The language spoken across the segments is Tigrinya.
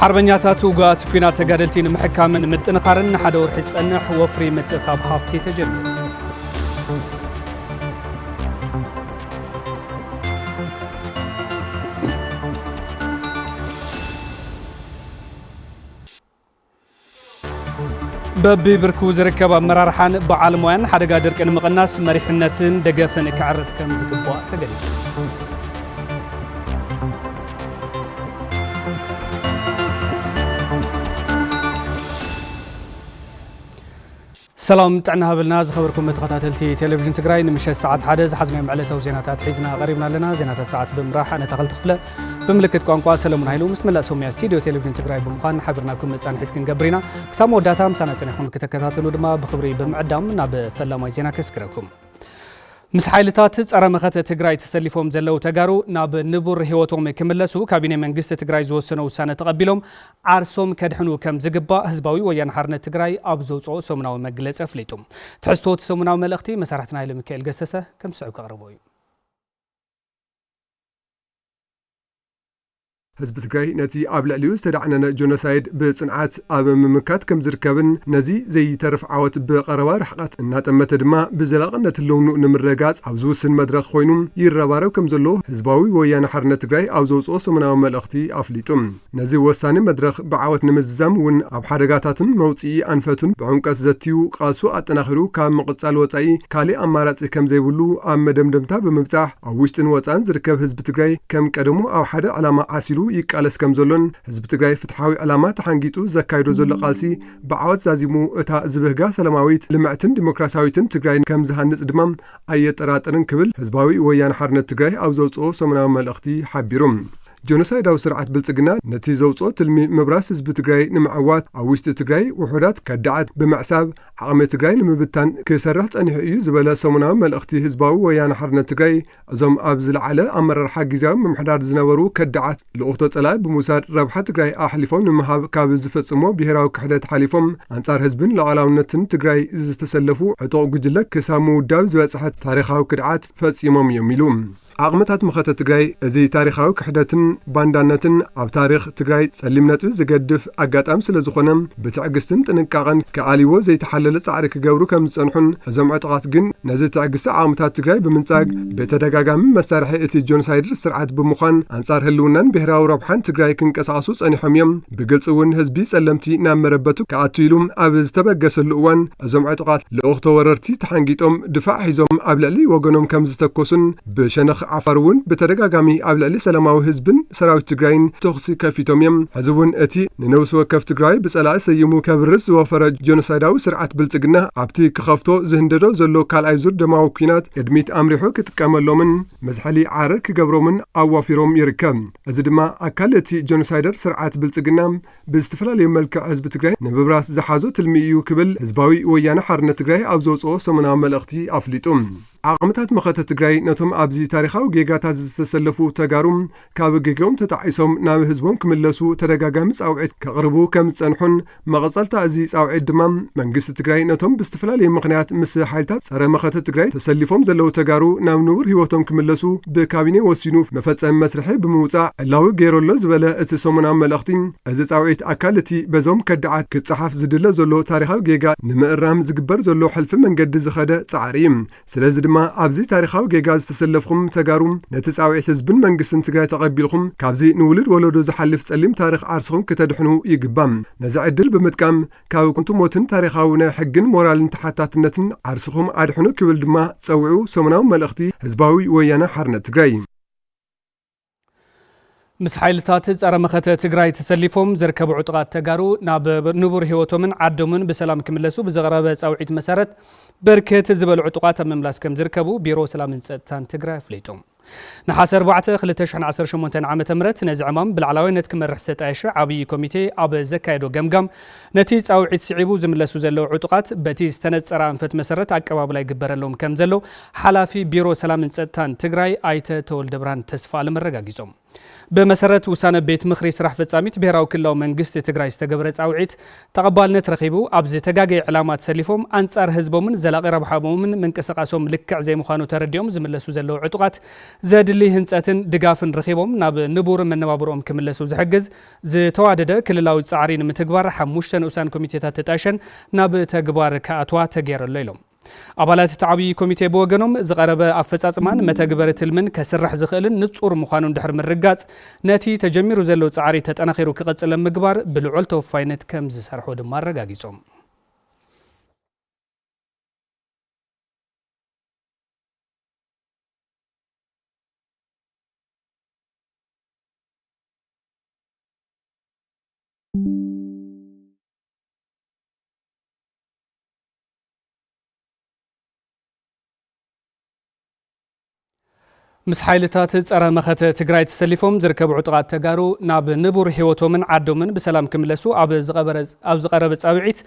ሓርበኛታት ውጉኣት ኲናት ተጋደልቲ ንምሕካምን ምጥንኻርን ንሓደ ወርሒ ዝጸንሕ ወፍሪ ምጥኻብ ሃፍቲ ተጀሚሩ። በቢብርኩ ዝርከብ ኣመራርሓን በዓል ሞያን ሓደጋ ድርቂ ንምቕናስ መሪሕነትን ደገፍን ከዕርፍ ከም ዝግባእ ተገሊጹ። ሰላም ጥዕና ሃበልና ዝኸበርኩም ተኸታተልቲ ቴሌቪዥን ትግራይ ንምሸት ሰዓት ሓደ ዝሓዝናዮም ዕለታዊ ዜናታት ሒዝና ቀሪብና ኣለና ዜናታት ሰዓት ብምራሕ ኣነ ተኸልቲ ክፍለ ብምልክት ቋንቋ ሰለሙን ሃይሉ ምስ መላእ ሰሙያ ስቱድዮ ቴሌቪዥን ትግራይ ብምዃን ሓቢርናኩም መፃንሒት ክንገብር ኢና ክሳብ መወዳእታ ምሳና ፀኒኹም ክተከታተሉ ድማ ብክብሪ ብምዕዳም ናብ ፈላማይ ዜና ከስግረኩም ምስ ሓይልታት ጸረ መኸተ ትግራይ ተሰሊፎም ዘለው ተጋሩ ናብ ንቡር ህይወቶም ክምለሱ ካቢኔ መንግስቲ ትግራይ ዝወሰኖ ውሳነ ተቐቢሎም ዓርሶም ከድሕኑ ከም ዝግባእ ህዝባዊ ወያነ ሓርነት ትግራይ ኣብ ዘውጽኦ ሰሙናዊ መግለጺ ኣፍሊጡ። ትሕዝቶ እቲ ሰሙናዊ መልእኽቲ መሳርሕትና ሃይለሚካኤል ገሰሰ ከም ዝስዕብ ከቕርቦ እዩ። ህዝቢ ትግራይ ነቲ ኣብ ልዕሊኡ ዝተዳዕነነ ጆኖሳይድ ብጽንዓት ኣብ ምምካት ከም ዝርከብን ነዚ ዘይተርፍ ዓወት ብቐረባ ርሕቐት እናጠመተ ድማ ብዘላቕነት ህልውንኡ ንምርግጋጽ ኣብ ዝውስን መድረኽ ኮይኑ ይረባረብ ከም ዘሎ ህዝባዊ ወያነ ሓርነት ትግራይ ኣብ ዘውጽኦ ሰሙናዊ መልእኽቲ ኣፍሊጡ። ነዚ ወሳኒ መድረኽ ብዓወት ንምዝዛም እውን ኣብ ሓደጋታቱን መውፅኢ ኣንፈቱን ብዕምቀት ዘትዩ ቃልሱ ኣጠናኺሩ ካብ ምቕፃል ወፃኢ ካሊእ ኣማራፂ ከምዘይብሉ ኣብ መደምደምታ ብምብፃሕ ኣብ ውሽጥን ወፃእን ዝርከብ ህዝቢ ትግራይ ከም ቀደሙ ኣብ ሓደ ዕላማ ዓሲሉ ይቃለስ ከምዘሎን ህዝቢ ትግራይ ፍትሓዊ ዕላማ ተሓንጊጡ ዘካይዶ ዘሎ ቃልሲ ብዓወት ዛዚሙ እታ ዝብህጋ ሰላማዊት፣ ልምዕትን ዲሞክራሲያዊትን ትግራይ ከምዝሃንፅ ድማ ኣየጠራጥርን ክብል ህዝባዊ ወያነ ሓርነት ትግራይ ኣብ ዘውፅኦ ሰሙናዊ መልእኽቲ ሓቢሩ። ጆኖሳይዳዊ ስርዓት ብልፅግና ነቲ ዘውፅኦ ትልሚ ምብራስ ህዝቢ ትግራይ ንምዕዋት ኣብ ውሽጢ ትግራይ ውሑዳት ከዳዓት ብምዕሳብ ዓቕሚ ትግራይ ንምብታን ክሰርሕ ፀኒሑ እዩ ዝበለ ሰሙናዊ መልእኽቲ ህዝባዊ ወያነ ሓርነት ትግራይ እዞም ኣብ ዝለዓለ ኣመራርሓ ጊዜያዊ ምምሕዳር ዝነበሩ ከዳዓት ልኡኽቶ ፀላኢ ብምውሳድ ረብሓ ትግራይ ኣሕሊፎም ንምሃብ ካብ ዝፈፅሞ ብሄራዊ ክሕደት ሓሊፎም ኣንፃር ህዝብን ሉዓላውነትን ትግራይ ዝተሰለፉ ዕጡቕ ጉጅለ ክሳብ ምውዳብ ዝበፅሐ ታሪኻዊ ክድዓት ፈፂሞም እዮም ኢሉ። ዓቕምታት መኸተ ትግራይ እዚ ታሪኻዊ ክሕደትን ባንዳነትን ኣብ ታሪኽ ትግራይ ፀሊም ነጥቢ ዝገድፍ ኣጋጣሚ ስለዝኾነ ብትዕግስትን ጥንቃቐን ክኣልይዎ ዘይተሓለለ ፃዕሪ ክገብሩ ከምዝፀንሑን እዞም ዕጡቓት ግን ነዚ ትዕግስቲ ዓቕምታት ትግራይ ብምንፃግ ብተደጋጋሚ መሳርሒ እቲ ጆኖሳይደር ስርዓት ብምዃን ኣንፃር ህልውናን ብሄራዊ ረብሓን ትግራይ ክንቀሳቐሱ ፀኒሖም እዮም። ብግልፂ እውን ህዝቢ ጸለምቲ ናብ መረበቱ ክኣቱ ኢሉ ኣብ ዝተበገሰሉ እዋን እዞም ዕጡቓት ልኡኽ ተወረርቲ ተሓንጊጦም ድፋዕ ሒዞም ኣብ ልዕሊ ወገኖም ከም ዝተኮሱን ብሸነኽ ዓፋር እውን ብተደጋጋሚ ኣብ ልዕሊ ሰላማዊ ህዝብን ሰራዊት ትግራይን ተኹሲ ከፊቶም እዮም። ሕዚ እውን እቲ ንነብሲ ወከፍ ትግራይ ብጸላኢ ሰይሙ ከብርስ ዝወፈረ ጆኖሳይዳዊ ስርዓት ብልጽግና ኣብቲ ክኸፍቶ ዝህንደዶ ዘሎ ካልኣይ ዙር ደማዊ ኩናት ቅድሚት ኣምሪሑ ክጥቀመሎምን መዝሐሊ ዓረር ክገብሮምን ኣዋፊሮም ይርከብ። እዚ ድማ ኣካል እቲ ጀኖሳይደር ስርዓት ብልፅግና ብዝተፈላለዩ መልክዕ ህዝቢ ትግራይ ንምብራስ ዝሓዞ ትልሚ እዩ ክብል ህዝባዊ ወያነ ሓርነት ትግራይ ኣብ ዘውፅኦ ሰሙናዊ መልእኽቲ ኣፍሊጡ። ዓቕምታት መኸተ ትግራይ ነቶም ኣብዚ ታሪኻዊ ጌጋታት ዝተሰለፉ ተጋሩ ካብ ጌገኦም ተጣዒሶም ናብ ህዝቦም ክምለሱ ተደጋጋሚ ፃውዒት ከቕርቡ ከም ዝፀንሑን መቐጸልታ እዚ ጻውዒት ድማ መንግስቲ ትግራይ ነቶም ብዝተፈላለየ ምኽንያት ምስ ሓይልታት ጸረ መኸተ ትግራይ ተሰሊፎም ዘለዉ ተጋሩ ናብ ንቡር ህይወቶም ክምለሱ ብካቢኔ ወሲኑ መፈጸሚ መስርሒ ብምውጻእ ዕላዊ ገይሩ ኣሎ ዝበለ እቲ ሰሙናዊ መልእኽቲ እዚ ጻውዒት ኣካል እቲ በዞም ከዳዓት ክጸሓፍ ዝድለ ዘሎ ታሪኻዊ ጌጋ ንምእራም ዝግበር ዘሎ ሕልፊ መንገዲ ዝኸደ ጻዕሪ እዩ። ስለዚ ድማ ኣብዚ ታሪኻዊ ጌጋ ዝተሰለፍኹም ተጋሩ ነቲ ጻውዒት ህዝብን መንግስትን ትግራይ ተቐቢልኹም ካብዚ ንውሉድ ወለዶ ዝሓልፍ ጸሊም ታሪኽ ዓርስኹም ክተድሕኑ ይግባእ። ነዚ ዕድል ብምጥቃም ካብ ኩንቱ ሞትን ታሪኻዊ ናይ ሕግን ሞራልን ተሓታትነትን ዓርስኹም ኣድሕኑ ክብል ድማ ጸውዑ ሰሙናዊ መልእኽቲ ህዝባዊ ወያነ ሓርነት ትግራይ። ምስ ሓይልታት ፀረ መኸተ ትግራይ ተሰሊፎም ዝርከቡ ዕጡቓት ተጋሩ ናብ ንቡር ህይወቶምን ዓዶምን ብሰላም ክምለሱ ብዝቐረበ ፃውዒት መሰረት በርከት ዝበሉ ዕጡቓት ኣብ ምምላስ ከም ዝርከቡ ቢሮ ሰላምን ፀጥታን ትግራይ ኣፍሊጡ። ነሓሰ 4 2018 ዓ ም ነዚ ዕማም ብላዕላዋይነት ክመርሕ ዝተጣየሸ ዓብዪ ኮሚቴ ኣብ ዘካየዶ ገምጋም ነቲ ጻውዒት ስዒቡ ዝምለሱ ዘለዉ ዕጡቓት በቲ ዝተነጸረ ኣንፈት መሰረት ኣቀባብላ ይግበረሎም ከም ዘሎ ሓላፊ ቢሮ ሰላምን ጸጥታን ትግራይ ኣይተ ተወልደብርሃን ተስፋኣለም ኣረጋጊጾም። ብመሰረት ውሳነ ቤት ምኽሪ ስራሕ ፈጻሚት ብሄራዊ ክልላዊ መንግስቲ ትግራይ ዝተገበረ ጻውዒት ተቐባልነት ረኺቡ ኣብ ዝተጋገየ ዕላማ ተሰሊፎም ኣንጻር ህዝቦምን ዘላቒ ረብሓኦምን ምንቅስቓሶም ልክዕ ዘይምዃኑ ተረዲኦም ዝምለሱ ዘለዉ ዕጡቓት ዘድሊ ህንጸትን ድጋፍን ረኺቦም ናብ ንቡር መነባብሮኦም ክምለሱ ዝሕግዝ ዝተዋደደ ክልላዊ ፃዕሪ ንምትግባር ሓሙሽተ ንኡሳን ኮሚቴታት ተጣይሸን ናብ ተግባር ክኣትዋ ተገይሩ ኣሎ ኢሎም። ኣባላት እቲ ዓብዪ ኮሚቴ ብወገኖም፣ ዝቐረበ ኣፈፃፅማን መተግበሪ ትልምን ከስርሕ ዝኽእልን ንፁር ምዃኑ እንድሕር ምርጋፅ ነቲ ተጀሚሩ ዘሎ ፃዕሪ ተጠናኺሩ ክቕፅል ኣብ ምግባር ብልዑል ተወፋይነት ከምዝሰርሑ ድማ ኣረጋጊፆም። ምስ ሓይልታት ጸረ መኸተ ትግራይ ተሰሊፎም ዝርከቡ ዕጡቓት ተጋሩ ናብ ንቡር ህይወቶምን ዓዶምን ብሰላም ክምለሱ ኣብ ዝቐረበ ጻውዒት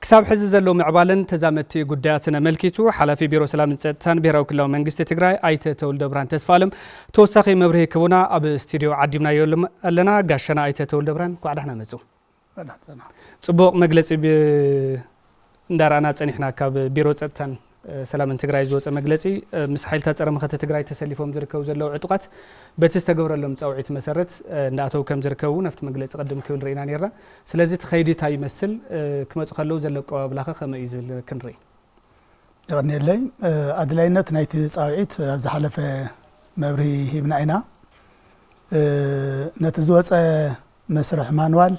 ክሳብ ሕዚ ዘሎ ምዕባለን ተዛመድቲ ጉዳያትን ኣመልኪቱ ሓላፊ ቢሮ ሰላምን ጸጥታን ብሔራዊ ክልላዊ መንግስቲ ትግራይ ኣይተ ተውልደ ብርሃን ተስፋ ኣለም ተወሳኺ መብርሂ ክህቡና ኣብ ስቱድዮ ዓዲምናዮ ኣለና። ጋሻና ኣይተ ተወልደብርሃን እንኳዕ ዳሕና መጹ። እንኳዕ ጸናሕ። ጽቡቕ መግለጺ ብ እንዳረኣና ጸኒሕና ካብ ቢሮ ጸጥታን ሰላምን ትግራይ ዝወጸ መግለጺ ምስ ሓይልታት ጸረ መኸተ ትግራይ ተሰሊፎም ዝርከቡ ዘለዉ ዕጡቓት በቲ ዝተገብረሎም ጻውዒት መሰረት እንዳኣተዉ ከም ዝርከቡ እውን ኣብቲ መግለጺ ቅድም ክብል ርኢና ነርና። ስለዚ እቲ ከይዲ እንታይ ይመስል? ክመጹ ከለዉ ዘሎ ኣቀባብላኸ ከመይ እዩ ዝብል ክንርኢ። የቐንየለይ። ኣድላይነት ናይቲ ጻውዒት ኣብ ዝሓለፈ መብርሂ ሂብና ኢና። ነቲ ዝወጸ መስርሕ ማንዋል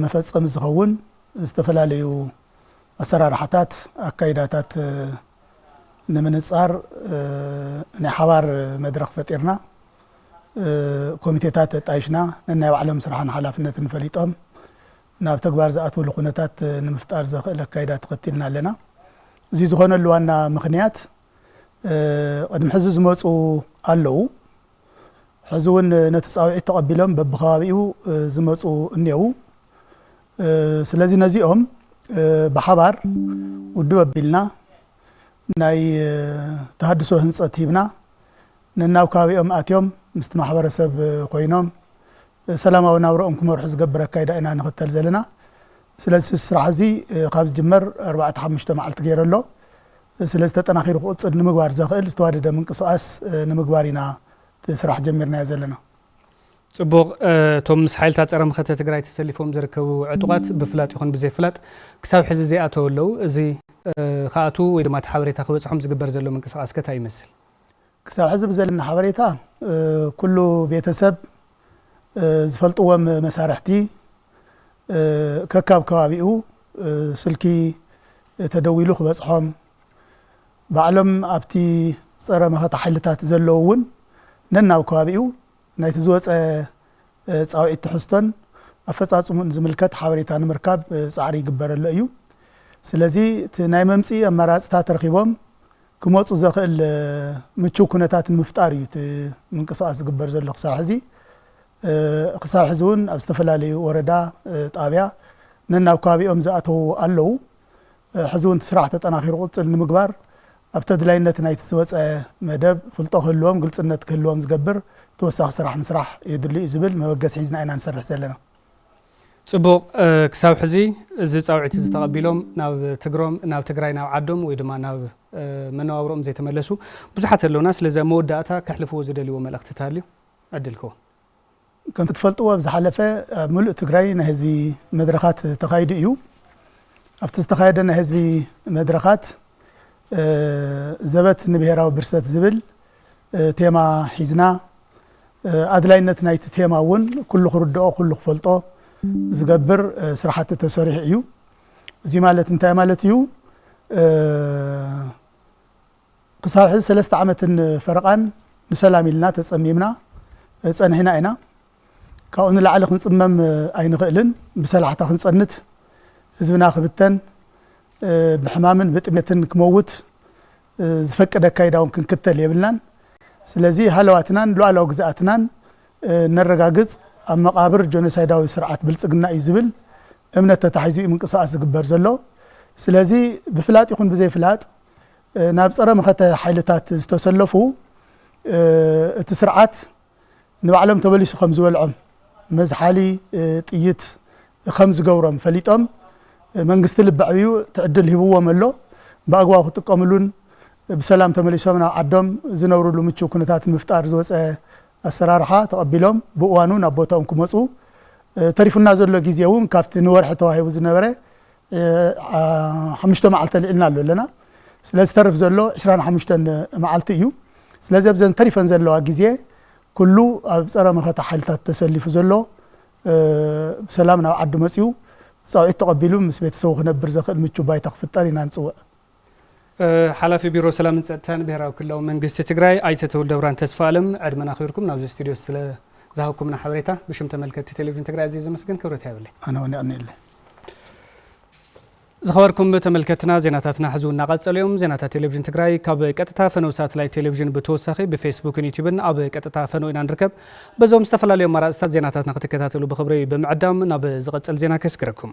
መፈጸሚ ዝኸውን ዝተፈላለዩ ኣሰራርሓታት፣ ኣካይዳታት ንምንጻር ናይ ሓባር መድረኽ ፈጢርና፣ ኮሚቴታት ኣጣይሽና፣ ነናይ ባዕሎም ስራሕን ሓላፍነትን ፈሊጦም፣ ናብ ተግባር ዝኣትውሉ ኩነታት ንምፍጣር ዘኽእል ኣካይዳ ተኸቲልና ኣለና። እዙይ ዝኾነሉ ዋና ምኽንያት ቕድሚ ሕዚ ዝመፁ ኣለዉ፣ ሕዚ እውን ነቲ ፃውዒት ተቐቢሎም በቢከባቢኡ ዝመፁ እኔዉ። ስለዚ ነዚኦም ብሓባር ውድብ ኣቢልና ናይ ተሃድሶ ህንፀት ሂብና ነናብ ከባቢኦም ኣትዮም ምስቲ ማሕበረሰብ ኮይኖም ሰላማዊ ናብራኦም ክመርሑ ዝገብር ኣካይዳ ኢና ንኽተል ዘለና። ስለዚ እዚ ስራሕ እዚ ካብ ዝጅመር ኣርባዕተ ሓሙሽተ መዓልቲ ገይሩ ኣሎ። ስለዚ ተጠናኺሩ ክቕፅል ንምግባር ዘኽእል ዝተዋደደ ምንቅስቓስ ንምግባር ኢና እቲ ስራሕ ጀሚርናዮ ዘለና። ፅቡቕ፣ እቶም ምስ ሓይልታት ፀረ መኸተ ትግራይ ተሰሊፎም ዝርከቡ ዕጡቓት ብፍላጥ ይኹን ብዘይፍላጥ ክሳብ ሕዚ ዘይኣተው ኣለው። እዚ ክኣትው ወይ ድማ እቲ ሓበሬታ ክበፅሖም ዝግበር ዘሎ ምንቅስቓስ ከ ታይ ይመስል? ክሳብ ሕዚ ብዘለኒ ሓበሬታ ኩሉ ቤተሰብ ዝፈልጥዎም መሳርሕቲ ከካብ ከባቢኡ ስልኪ ተደዊሉ ክበፅሖም ባዕሎም ኣብቲ ፀረ መኸተ ሓይልታት ዘለዉ እውን ነናብ ከባቢኡ ናይቲ ዝወፀ ፃውዒት ትሕዝቶን ኣፈፃፅሙኡን ዝምልከት ሓበሬታ ንምርካብ ፃዕሪ ይግበረሎ እዩ። ስለዚ እቲ ናይ መምፅኢ ኣማራፅታት ረኺቦም ክመፁ ዘኽእል ምችው ኩነታት ንምፍጣር እዩ እቲ ምንቅስቓስ ዝግበር ዘሎ ክሳብ ሕዚ። ክሳብ ሕዚ እውን ኣብ ዝተፈላለዩ ወረዳ፣ ጣብያ ነናብ ከባቢኦም ዝኣተዉ ኣለዉ። ሕዚ እውን እቲ ስራሕ ተጠናኺሩ ክቕፅል ንምግባር ኣብ ተድላይነት ናይቲ ዝወፀ መደብ ፍልጦ ክህልዎም ግልፅነት ክህልዎም ዝገብር ተወሳኺ ስራሕ ምስራሕ የድሊ እዩ ዝብል መበገሲ ሒዝና ኢና ንሰርሕ ዘለና። ጽቡቕ ክሳብ ሕዚ እዚ ጻውዒት እዚ ተቐቢሎም ናብ ትግሮም ናብ ትግራይ ናብ ዓዶም ወይ ድማ ናብ መነባብሮኦም ዘይተመለሱ ብዙሓት ኣለውና ስለዚ ኣብ መወዳእታ ከሕልፍዎ ዝደልይዎ መልእኽቲ ታልዩ ዕድል ክወም። ከምቲ ትፈልጥዎ ኣብ ዝሓለፈ ኣብ ምሉእ ትግራይ ናይ ህዝቢ መድረኻት ተኻይዱ እዩ። ኣብቲ ዝተኻየደ ናይ ህዝቢ መድረኻት ዘበት ንብሄራዊ ብርሰት ዝብል ቴማ ሒዝና ኣድላይነት ናይቲ ቴማ እውን ኩሉ ክርድኦ ኩሉ ክፈልጦ ዝገብር ስራሕቲ ተሰሪሑ እዩ። እዙይ ማለት እንታይ ማለት እዩ? ክሳብ ሕዚ ሰለስተ ዓመትን ፈረቓን ንሰላም ኢልና ተፀሚምና ፀኒሕና ኢና። ካብኡ ንላዕሊ ክንጽመም ኣይንኽእልን፣ ብሰላሕታ ክንጸንት፣ ህዝብና ክብተን፣ ብሕማምን ብጥሜትን ክመውት ዝፈቅድ ኣካይዳውን ክንክተል የብልናን። ስለዚ ሃለዋትናን ሉኣላዊ ግዝኣትናን ነረጋግጽ፣ ኣብ መቓብር ጆኖሳይዳዊ ስርዓት ብልጽግና እዩ ዝብል እምነት ተታሒዙ እዩ ምንቅስቓስ ዝግበር ዘሎ። ስለዚ ብፍላጥ ይኹን ብዘይፍላጥ ናብ ጸረ መኸተ ሓይልታት ዝተሰለፉ እቲ ስርዓት ንባዕሎም ተመሊሱ ከም ዝበልዖም መዝሓሊ ጥይት ከም ዝገብሮም ፈሊጦም መንግስቲ ልቢ ኣዕቢዩ እቲ ዕድል ሂብዎም ኣሎ ብኣግባቡ ክጥቀምሉን ብሰላም ተመሊሶም ናብ ዓዶም ዝነብርሉ ምቹው ኩነታት ንምፍጣር ዝወፀ ኣሰራርሓ ተቐቢሎም ብእዋኑ ናብ ቦትኦም ክመፁ ተሪፉና ዘሎ ግዜ እውን ካብቲ ንወርሒ ተዋሂቡ ዝነበረ ሓሙሽተ መዓልቲ ኣልዒልና ኣሎ ኣለና ስለዚ ዝተርፍ ዘሎ ዕስራን ሓሙሽተን መዓልቲ እዩ ስለዚ ኣብዘን ተሪፈን ዘለዋ ግዜ ኩሉ ኣብ ጸረ መኸተ ሓይልታት ተሰሊፉ ዘሎ ብሰላም ናብ ዓዱ መጺኡ ጻውዒት ተቐቢሉ ምስ ቤተሰቡ ክነብር ዘኽእል ምቹው ባይታ ክፍጠር ኢና ንጽውዕ። ሓላፊ ቢሮ ሰላምን ፀጥታን ብሄራዊ ክልላዊ መንግስቲ ትግራይ ኣይተ ተውልደብርሃን ተስፋኣለም ዕድመን ኣኽቢርኩም ናብዚ ስቱድዮ ስለ ዝሃብኩምና ሓበሬታ ብሽም ተመልከትቲ ቴሌቪዥን ትግራይ ኣዝየ ዘመስግን ክብረት ይሃበለይ። ኣነ እውን የቕንየለይ። ዝኸበርኩም ተመልከትና ዜናታትና ሕዚ እውን እናቐፀሉ እዮም። ዜናታት ቴሌቪዥን ትግራይ ካብ ቀጥታ ፈነው ሳትላይት ቴሌቪዥን ብተወሳኺ ብፌስቡክን ዩቲዩብን ኣብ ቀጥታ ፈነው ኢና ንርከብ። በዞም ዝተፈላለዩ ኣማራፅታት ዜናታትና ክትከታተሉ ብኽብሪ ብምዕዳም ናብ ዝቐፅል ዜና ከስግረኩም።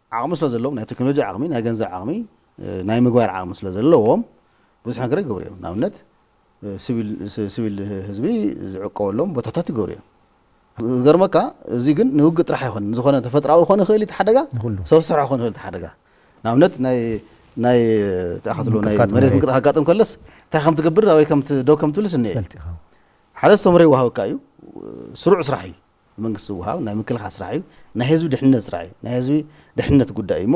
ዓቕሚ ስለ ዘለዎም፣ ናይ ተክኖሎጂ ዓቕሚ፣ ናይ ገንዘብ ዓቕሚ፣ ናይ ምግባር ዓቕሚ ስለ ዘለዎም ብዙሕ ነገር ይገብሩ እዮም። ንኣብነት ስቪል ስቪል ህዝቢ ዝዕቀበሎም ቦታታት ይገብሩ እዮም። ዝገርመካ እዚ ግን ንውግእ ጥራሕ ኣይኮነን። ዝኾነ ተፈጥራዊ ክኾን ይኽእል እዩ እቲ ሓደጋ፣ ንኹሉ። ሰብ ዝሰርሖ ክኾን ይኽእል እቲ ሓደጋ። ንኣብነት ናይ ናይ እንታይ ኢኻ ትብሎ ናይ ምንቅጥቃጥ መሬት መሬት። ምንቅጥቃጥ ከጋጥም ከለስ እንታይ ከም ትገብር ኣበይ ከም ት- ደው ከም ትብልስ እኒኤ። ትፈልጥ ኢኻ። ሓደ ሰምረ ይወሃበካ እዩ፣ ስሩዕ ስራሕ እዩ። መንግስቲ ዝወሃብ ናይ ምክልኻል ስራሕ እዩ። ናይ ህዝቢ ድሕንነት ስራሕ እዩ። ናይ ህዝቢ ድሕንነት ጉዳይ እዩ እሞ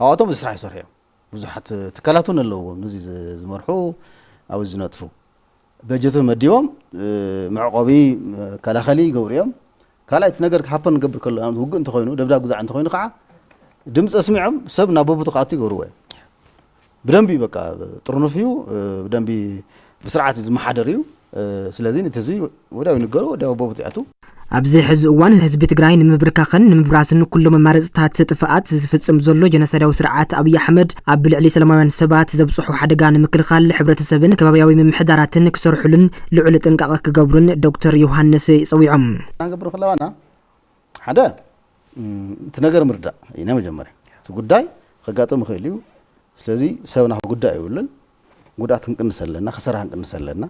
ኣብኣቶም እዚ ስራሕ ይሰርሑ እዮም። ብዙሓት ትካላት እውን ኣለውዎም ንዚ ዝመርሑ ኣብ ዝነጥፉ በጀት እውን መዲቦም መዕቆቢ መከላኸሊ ይገብሩ እዮም። ካልኣይ እቲ ነገር ሃፐን ክገብር ከሎ ንኣብነት ውግእ እንተኾይኑ ደብዳብ ግዛዕ እንተኾይኑ ከዓ ድምፂ ኣስሚዖም ሰብ ናብ ቦብቱ ክኣቱ ይገብርዎ እዮም። ብደንቢ በቃ ጥርኑፍ እዩ ብደንቢ ብስርዓት እዩ ዝመሓደር እዩ ስለዚ ነቲ ህዝቢ ወዲያው ይንገሮ ወዲያው ቦብት ይኣቱ ኣብዚ ሕዚ እዋን ህዝቢ ትግራይ ንምብርካኽን ንምብራስን ኩሉ መማረፅታት ጥፍኣት ዝፍፅም ዘሎ ጀኖሳይዳዊ ስርዓት ኣብይ ኣሕመድ ኣብ ልዕሊ ሰላማውያን ሰባት ዘብፅሖ ሓደጋ ንምክልኻል ሕብረተሰብን ከባብያዊ ምምሕዳራትን ክሰርሑሉን ልዑል ጥንቃቐ ክገብሩን ዶክተር ዮሃንስ ፀዊዖም። ክንገብር ከለዋና ሓደ እቲ ነገር ምርዳእ እዩ ናይ መጀመርያ እቲ ጉዳይ ከጋጥም ይኽእል እዩ ስለዚ ሰብና ክጉዳእ የብሉን ጉድኣት ክንቅንስ ኣለና ከሰራ ክንቅንስ ኣለና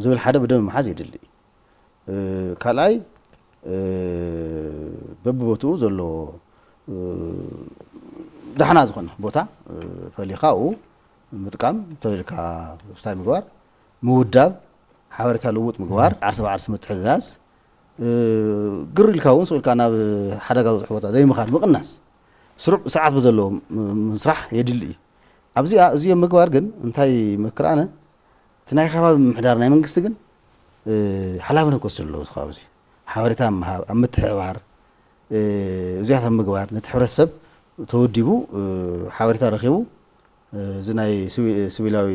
ዝብል ሓደ ብደም ምሓዝ የድሊ እዩ ካልኣይ በብቦትኡ ዘለዎ ዳሕና ዝኾነ ቦታ ፈሊኻ ኣብኡ ምጥቃም ተልልካ ስታይ ምግባር ምውዳብ ሓበሬታ ልውጥ ምግባር ዓርሲ ብዓርሲ ምትሕዛዝ ግር ኢልካ እውን ስቕ ኢልካ ናብ ሓደጋ ዝበፅሑ ቦታ ዘይምኻድ ምቕናስ ስሩዕ ስርዓት ብዘለዎ ምስራሕ የድሊ እዩ። ኣብዚኣ እዚኦም ምግባር ግን እንታይ ይመክር ኣነ እቲ ናይ ኸባቢ ምምሕዳር ናይ መንግስቲ ግን ሓላፍነት ክወስድ ኣለዎ እዚ ከባቢ እዚ ሓበሬታ ኣብ ምሃብ ኣብ ምትሕብባር እዚኣት ኣብ ምግባር ነቲ ሕብረተሰብ ተወዲቡ ሓበሬታ ረኺቡ እዚ ናይ ስቪላዊ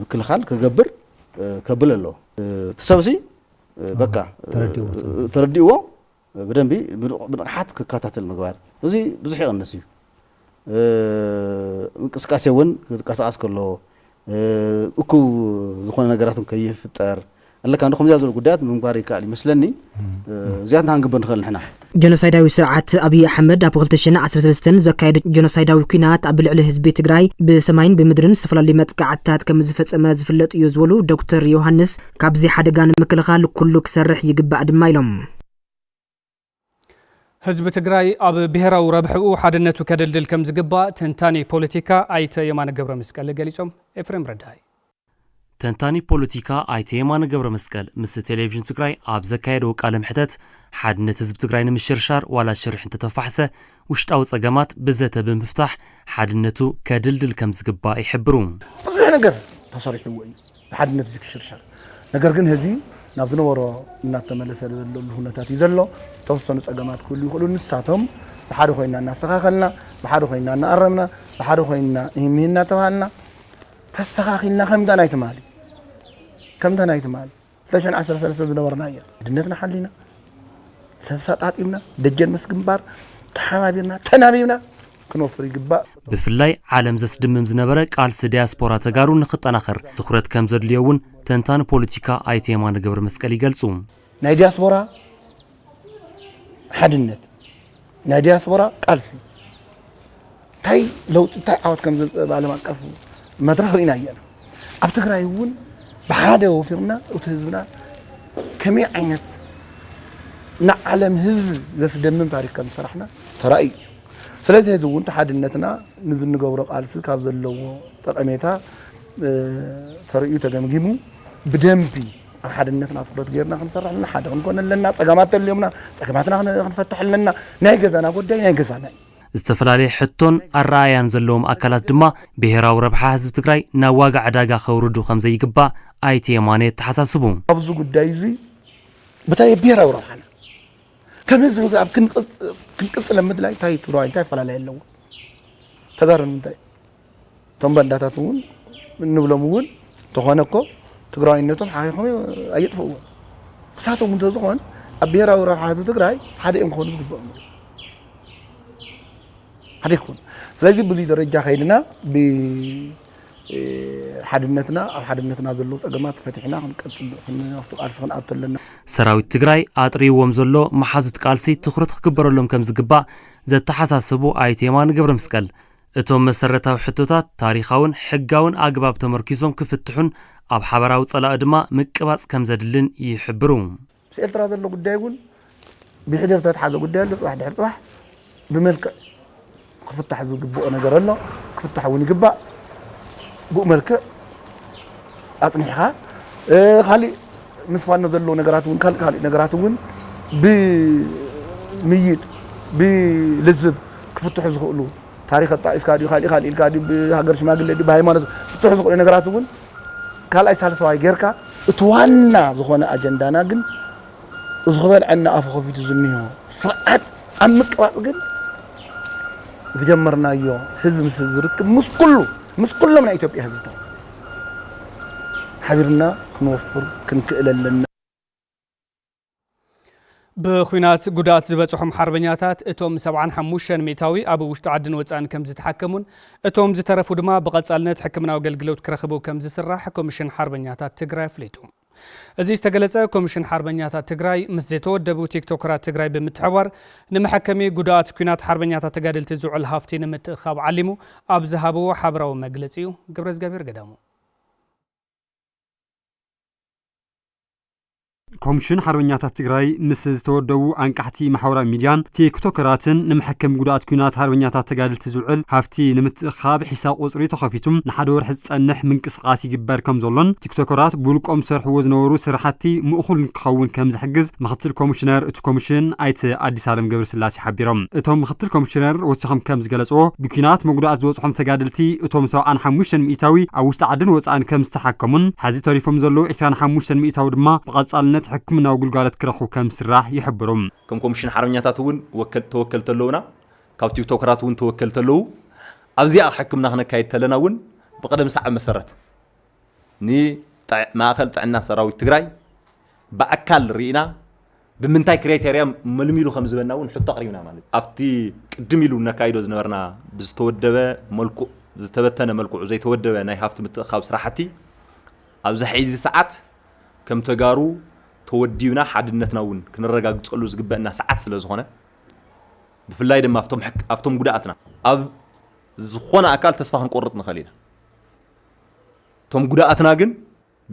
ምክልኻል ክገብር ከብል ኣለዎ። እቲ ሰብሲ በቃ ተረዲእዎ ብደንቢ ብንቕሓት ክከታተል ምግባር እዚ ብዙሕ ይቕንስ እዩ። እንቅስቃሴ እውን ክቀሳቀስ ከሎ እኩብ ዝኾነ ነገራት ከይፍጠር ኣለካ እንዶ ከምዚኣ ዝበሉ ጉዳያት ምምጓር ይከኣል እዩ መስለኒ እዚኣ እንታይ ክንግብር ንኽእል ንሕና ጀኖሳይዳዊ ስርዓት ኣብዪ ኣሕመድ ኣብ ክልተ ሽሕን ዓሰርተ ሰለስተን ዘካየዶ ጀኖሳይዳዊ ኲናት ኣብ ልዕሊ ህዝቢ ትግራይ ብሰማይን ብምድርን ዝተፈላለዩ መጥቃዕትታት ከምዝፈፀመ ዝፍለጥ እዩ ዝበሉ ዶክተር ዮውሃንስ፣ ካብዚ ሓደጋ ንምክልኻል ኩሉ ክሰርሕ ይግባእ ድማ ኢሎም። ህዝቢ ትግራይ ኣብ ብሄራዊ ረብሕኡ ሓድነቱ ከደልድል ከምዝግባእ ተንታኒ ፖለቲካ ኣይተ የማነ ገብረመስቀል ገሊፆም። ኤፍሬም ረዳኢ። ተንታኒ ፖለቲካ ኣይተ የማነ ገብረመስቀል ምስ ቴሌቪዥን ትግራይ ኣብ ዘካየዶ ቃለ መሕተት ሓድነት ህዝቢ ትግራይ ንምሽርሻር ዋላ ሽርሒ እንተተፋሕሰ ውሽጣዊ ፀገማት ብዘተ ብምፍታሕ ሓድነቱ ከድልድል ከምዝግባእ ይሕብሩ። ብዙሕ ነገር ተሰሪሕዎ እዩ። ሓድነት እዚ ክሽርሸር ነገር ግን ህዝቢ ናብ ዝነበሮ እናተመለሰ ዘለሉ ሁነታት እዩ ዘሎ። ተወሰኑ ፀገማት ክህሉ ይኽእሉ። ንሳቶም ብሓደ ኮይና እናስተኻኸልና፣ ብሓደ ኮይና እናኣረምና፣ ብሓደ ኮይና ይህምህ እናተባሃልና ተስተኻኺልና ከምታ ናይ ትማሊ ከምታ ናይ ትማሊ ሰሽን ዓሰርተ ሰለስተ ዝነበርናዮ ኣንድነትና ሓሊና ተሰጣጢምና ደጀን ምስ ግንባር ተሓባቢርና ተናቢብና ክንወፍር ይግባእ። ብፍላይ ዓለም ዘስድምም ዝነበረ ቃልሲ ዲያስፖራ ተጋሩ ንክጠናኸር ትኹረት ከም ዘድልዮ እውን ተንታኒ ፖለቲካ ኣይተ የማነ ገብረመስቀል ይገልፁ። ናይ ዲያስፖራ ሓድነት ናይ ዲያስፖራ ቃልሲ እንታይ ለውጢ እንታይ ዓወት ከም ዘምፅእ ብዓለም ኣቀፍ መድረኽ ርኢና እያና ኣብ ትግራይ እውን ብሓደ ወፊርና እቲ ህዝብና ከመይ ዓይነት ንዓለም ህዝቢ ዘስደምም ታሪክ ከም ዝሰራሕና ተራእዩ እዩ ስለዚ ሕዚ እውን ተሓድነትና ንዚ ንገብሮ ቃልሲ ካብ ዘለዎ ጠቐሜታ ተርእዩ ተገምጊሙ ብደንቢ ኣብ ሓድነትና ትኩረት ገይርና ክንሰርሕ ኣለና ሓደ ክንኮን ኣለና ፀገማት ተልዮምና ፀገማትና ክንፈትሕ ኣለና ናይ ገዛና ጉዳይ ናይ ገዛና እዩ ዝተፈላለየ ሕቶን ኣረኣእያን ዘለዎም ኣካላት ድማ ብሄራዊ ረብሓ ህዝቢ ትግራይ ናብ ዋጋ ዕዳጋ ከውርዱ ከም ዘይግባእ ኣይተ የማነ የተሓሳስቡ። ኣብዚ ጉዳይ እዚ ብታይ ብሄራዊ ረብሓና ከም ህዝቢ ኣብ ክንቅፅለ ምድላይ እንታይ ትግራዋይ እንታይ ኣፈላለየ ኣለዎ ተጋሩ ንምንታይ እቶም ባንዳታት እውን እንብሎም እውን ተኾነ እኮ ትግራዋይነቶም ሓኺኾም ኣየጥፍእዎ ክሳቶም እንተዝኾን ኣብ ብሄራዊ ረብሓ ህዝቢ ትግራይ ሓደ እዮም ክኾኑ ዝግብኦም ሓደ ይኮኑ ስለዚ ብዙይ ደረጃ ከይድና ብሓድነትና ኣብ ሓድነትና ዘለዉ ፀገማት ፈትሕና ክንቀፅል ክንወስዱ ቃልሲ ክንኣቱ ኣለና ሰራዊት ትግራይ ኣጥርይዎም ዘሎ መሓዙት ቃልሲ ትኹረት ክግበረሎም ከምዝግባእ ዘተሓሳሰቡ ኣይተ የማነ ገብረመስቀል፣ እቶም መሰረታዊ ሕቶታት ታሪኻውን ሕጋውን ኣግባብ ተመርኲሶም ክፍትሑን ኣብ ሓበራዊ ጸላኢ ድማ ምቅባጽ ከም ዘድልን ይሕብሩ። ምስ ኤርትራ ዘሎ ጉዳይ እውን ብሕደር ዝተትሓዘ ጉዳይ ኣሎ። ጽባሕ ድሕሪ ጽባሕ ብመልክዕ ክፍታሕ ዝግብኦ ነገር ኣሎ፣ ክፍታሕ እውን ይግባእ። ብኡ መልክዕ ኣጽኒሕኻ ካልእ ምስ ፋኖ ዘሎ ነገራት እውን ካልእ ካልእ ነገራት እውን ብምይይጥ ብልዝብ ክፍትሑ ዝኽእሉ ታሪክ ኣጣቂስካ ድዩ ካልእ ካልእ ኢልካ ድዩ ብሃገር ሽማግለ ድዩ ብሃይማኖት ክፍትሑ ዝኽእሉ ነገራት እውን ካልኣይ ሳልሰዋይ ጌርካ እቲ ዋና ዝኾነ ኣጀንዳና ግን እዚ ክበልዐና ኣፉ ከፊቱ ዝኒሆ ስርዓት ኣብ ምቅባፅ ግን ዝጀመርናዮ ህዝቢ ምስ ህዝቢ ርክብ ምስ ኩሉ ምስ ኩሎም ናይ ኢትዮጵያ ህዝብታት ሓቢርና ክንወፍር ክንክእል ኣለና። ብኹናት ጉድኣት ዝበፅሖም ሓርበኛታት እቶም ሰብዓን ሓሙሽተን ሚእታዊ ኣብ ውሽጢ ዓድን ወፃእን ከምዝተሓከሙን እቶም ዝተረፉ ድማ ብቐፃልነት ሕክምናዊ ኣገልግሎት ክረኽቡ ከምዝስራሕ ኮሚሽን ሓርበኛታት ትግራይ ኣፍሊጡ። እዚ ዝተገለፀ ኮሚሽን ሓርበኛታት ትግራይ ምስ ዘይተወደቡ ቲክቶከራት ትግራይ ብምትሕብባር ንመሐከሚ ጉዱኣት ኲናት ሓርበኛታት ተጋደልቲ ዝውዕል ሃፍቲ ንምትእኽኻብ ዓሊሙ ኣብ ዝሃብዎ ሓበራዊ መግለፂ ዩ። ገብረእዝጋቢሄር ገዳሙ። ኮሚሽን ሓርበኛታት ትግራይ ምስ ዝተወደቡ ኣንቃሕቲ ማሕበራዊ ሚድያን ቲክቶከራትን ንመሐከሚ ጉዱኣት ኲናት ሓርበኛታት ተጋደልቲ ዝውዕል ሃፍቲ ንምትእኽኻብ ሒሳብ ቁፅሪ ተኸፊቱ ንሓደ ወርሒ ዝፀንሕ ምንቅስቓስ ይግበር ከምዘሎን ሸኮራት ብውልቆም ዝሰርሕዎ ዝነበሩ ስራሕቲ ምእኹል ንክኸውን ከምዝሕግዝ ምክትል ኮሚሽነር እቲ ኮሚሽን ኣይተ ኣዲሳለም ገብረስላሴ ሓቢሮም። እቶም ምክትል ኮሚሽነር ወሲኾም ከምዝገለፅዎ፣ ብኲናት መጉዳእቲ ዝበፅሖም ተጋደልቲ እቶም ሰብዓን ሓሙሽተን ሚኢታዊ ኣብ ውሽጢ ዓድን ወፃእን ከምዝተሓከሙን ሐዚ ተሪፎም ዘለዉ ዕስራን ሓሙሽተን ሚኢታዊ ድማ ብቐፃልነት ሕክምናዊ ግልጋሎት ክረኽቡ ከምዝስራሕ ይሕብሩ። ከም ኮሚሽን ሓርበኛታት እውን ተወከልቲ ኣለዉና። ካብ ቲክቶከራት እውን ተወከልቲ ኣለዉ። ኣብዚኣ ሕክምና ክነካይድ ተለና እውን ብቕደም ሰዓብ መሰረት፣ ንማእኸል ጥዕና ሰራዊት ትግራይ ብኣካል ርኢና ብምንታይ ክሬቴርያ መልሚሉ ከም ዝበና እውን ሕቶ ኣቕሪብና ማለት እዩ። ኣብቲ ቅድም ኢሉ እነካይዶ ዝነበርና ብዝተወደበ መልክዑ ዝተበተነ መልክዑ ዘይተወደበ ናይ ሃፍቲ ምትእኻብ ስራሕቲ ኣብዚ ሕዚ ሰዓት ከም ተጋሩ ተወዲብና ሓድነትና እውን ክነረጋግፀሉ ዝግበእና ሰዓት ስለ ዝኾነ ብፍላይ ድማ ኣብቶም ጉድኣትና ኣብ ዝኾነ ኣካል ተስፋ ክንቆርፅ ንኽእል ኢና። እቶም ጉዳኣትና ግን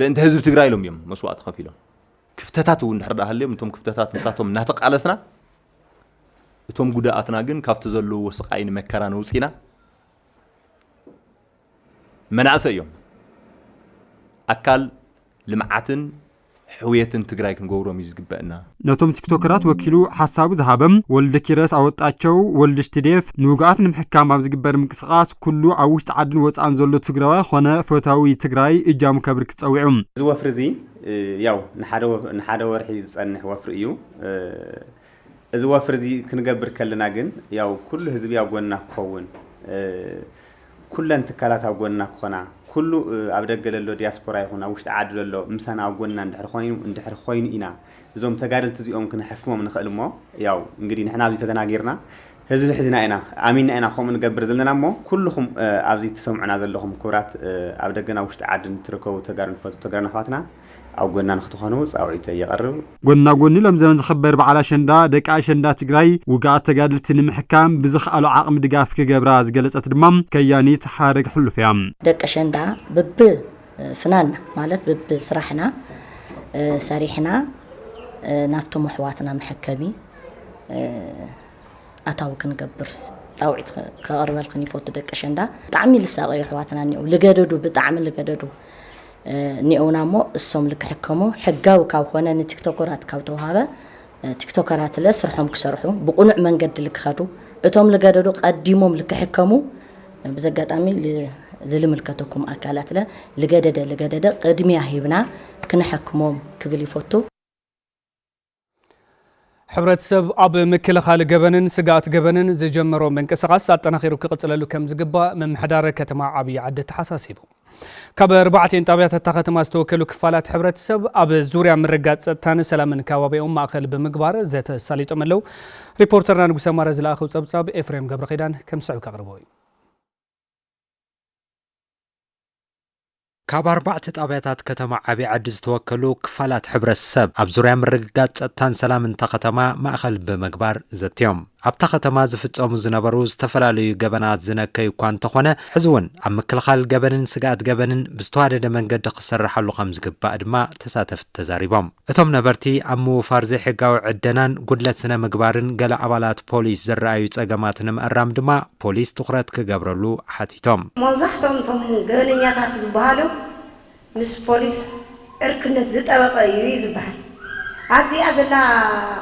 ብእንተ ህዝቢ ትግራይ ኢሎም እዮም መስዋእቲ ከፊሎም ክፍተታት እውን ድሕር ሃልዮም እቶም ክፍተታት ንሳቶም እናተቃለስና እቶም ጉዳኣትና ግን ካብቲ ዘለዎ ስቃይን መከራን ውፂና መናእሰ እዮም ኣካል ልምዓትን ሕውየትን ትግራይ ክንገብሮም እዩ ዝግበእና። ነቶም ቲክቶከራት ወኪሉ ሓሳቡ ዝሃበ ወልደኪረስ ኣወጣቸው፣ ወልድሽ ትዴፍ፣ ንውጉኣት ንምሕካም ኣብ ዝግበር ምንቅስቓስ ኩሉ ኣብ ውሽጢ ዓድን ወፃእን ዘሎ ትግራዋይ ኾነ ፈታዊ ትግራይ እጃሙ ከብርክት ፀዊዑ። እዚ ወፍሪ እዚ ያው ንሓደ ወርሒ ዝፀንሕ ወፍሪ እዩ። እዚ ወፍሪ እዚ ክንገብር ከለና ግን ያው ኩሉ ህዝቢ ኣብ ጎንና ክኸውን፣ ኩለን ትካላት ኣብ ጎንና ክኾና፣ ኩሉ ኣብ ደገ ለሎ ዲያስፖራ ይኹን ኣብ ውሽጢ ዓዲ ለሎ ምሳና ኣብ ጎንና እንድሕር ኾይኑ እንድሕር ኾይኑ ኢና እዞም ተጋደልቲ እዚኦም ክነሕክሞም ንኽእል እሞ ያው እንግዲህ ንሕና ኣብዚ ተደናጊርና ህዝቢ ሒዝና ኢና ኣሚንና ኢና ከምኡ ንገብር ዘለና እሞ ኩልኹም ኣብዚ ትሰምዑና ዘለኹም ክብራት ኣብ ደገን ኣብ ውሽጢ ዓድን ትርከቡ ተጋሩን ፈቱ ተጋሩን ኣሕዋትና ኣብ ጎና ንክትኾኑ ፃውዒተይ የቐርብ። ጎና ጎኒ ሎሚ ዘበን ዝኽበር በዓል ኣሸንዳ፣ ደቂ ኣሸንዳ ትግራይ ውጉኣት ተጋደልቲ ንምሕካም ብዝክኣሎ ዓቕሚ ድጋፍ ክገብራ ዝገለፀት ድማ ከያኒት ሓረግ ሕሉፍ እያ። ደቂ ኣሸንዳ ብብ ፍናንና ማለት ብብ ስራሕና ሰሪሕና ናብቶም ኣሕዋትና መሐከሚ ኣታዊ ክንገብር ፃውዒት ከቕርበልክን ይፈቱ። ደቂ ኣሸንዳ ብጣዕሚ ልሳቐዩ ኣሕዋትና እኒአው፣ ልገደዱ ብጣዕሚ ልገደዱ ኒኦውና እሞ እሶም ልክሕከሞ ሕጋዊ ካብ ኾነ ንቲክቶኮራት ካብ ተውሃበ ቲክቶከራት ለ ስርሖም ክሰርሑ ብቁኑዕ መንገዲ ልክኸዱ እቶም ልገደዱ ቀዲሞም ልክሕከሙ ብዚ ኣጋጣሚ ልልምልከተኩም ኣካላት ለ ልገደደ ልገደደ ቅድሚያ ሂብና ክነሐክሞም ክብል ይፎቱ። ሕብረተሰብ ኣብ ምክልኻል ገበንን ስግኣት ገበንን ዝጀመሮ ምንቅስቓስ ኣጠናኺሩ ክቕፅለሉ ከም ዝግባእ ምምሕዳር ከተማ ዓብዪ ዓዲ ኣተሓሳሲቡ። ካብ ኣርባዕቴን ጣብያታት እታ ከተማ ዝተወከሉ ክፋላት ሕብረተሰብ ኣብ ዙርያ ምርጋፅ ፀጥታን ሰላምን ከባቢኦም ማእኸል ብምግባር ዘተ ኣሳሊጦም ኣለው። ሪፖርተርና ንጉሰ ማረ ዝለኣኸው ፀብፃብ ኤፍሬም ገብረኺዳን ከም ዝስዕብ ከቕርቦ እዩ። ካብ ኣርባዕተ ጣብያታት ከተማ ዓብይ ዓዲ ዝተወከሉ ክፋላት ሕብረተሰብ ኣብ ዙርያ ምርግጋፅ ፀጥታን ሰላምን እታ ከተማ ማእኸል ብምግባር ዘትዮም ኣብታ ከተማ ዝፍፀሙ ዝነበሩ ዝተፈላለዩ ገበናት ዝነከዩ እኳ እንተኾነ ሕዚ እውን ኣብ ምክልኻል ገበንን ስግኣት ገበንን ብዝተዋደደ መንገዲ ክስረሓሉ ከምዝግባእ ድማ ተሳተፍቲ ተዛሪቦም። እቶም ነበርቲ ኣብ ምውፋር ዘይሕጋዊ ዕደናን ጉድለት ስነ ምግባርን ገለ ኣባላት ፖሊስ ዝረኣዩ ፀገማት ንምእራም ድማ ፖሊስ ትኹረት ክገብረሉ ሓቲቶም። መብዛሕትኦም እቶም ገበነኛታት ዝበሃሉ ምስ ፖሊስ ዕርክነት ዝጠበቐ እዩ እዩ ዝበሃል። ኣብዚኣ ዘላ